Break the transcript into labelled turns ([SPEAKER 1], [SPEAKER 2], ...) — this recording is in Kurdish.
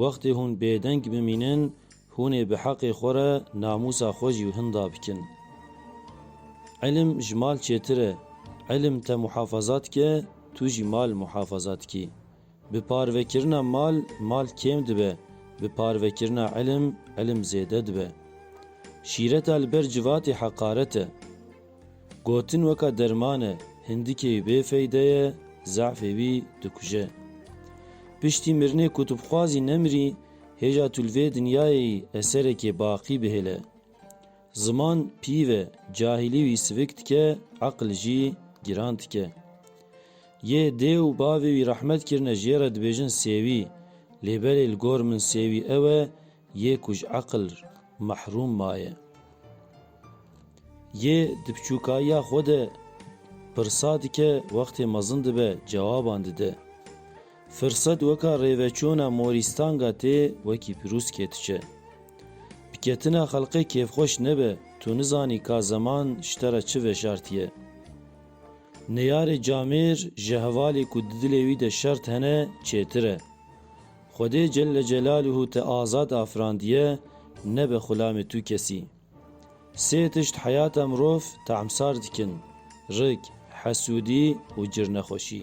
[SPEAKER 1] Wextê hûn bêdeng bimînin, hûn ê bi heqê xwe re namûsa xwe jî hinda bikin. Îlim ji mal çêtir e. Îlim te muhafaza dike, tu jî mal muhafaza dikî. Bi parvekirina mal, mal kêm dibe, bi parvekirina îlim, îlim zêde dibe. Şîreta li ber civatê heqaret e. Gotin weka derman e, hindikê wî bê feyde ye, zefê wî dikuje. Piştî mirinê ku tu bixwazî nemirî, hêja tu li vê dinyayê yî eserekê baqî bihêle. Ziman pîv e, cahîlî wî sivik dike, eqil jî giran dike. Yê dê û bavê wî rehmet kirine jê re dibêjin sêwî, lê berê li gor min sêwî ew e, Yê ku ji eqil mehrûm maye. Yê di piçûkayiya xwe de pirsa dike, wextê mezin dibe cewaban dide. Firset weka rêveçûna morîstanga tê wekî pirûskê diçe. Bi ketina xelqê kêfxweş nebe, tu nizanî ka zeman ji te re çi veşartiye. Neyarê camêr ji hevalê ku di dilê wî de şert hene çêtir e. Xwedê Celle Celaluhu te azad afirandiye, nebe xulamê tu kesî. Sê tişt heyata mirov tamsar dikin, rik, hesûdî û cirnexweşî.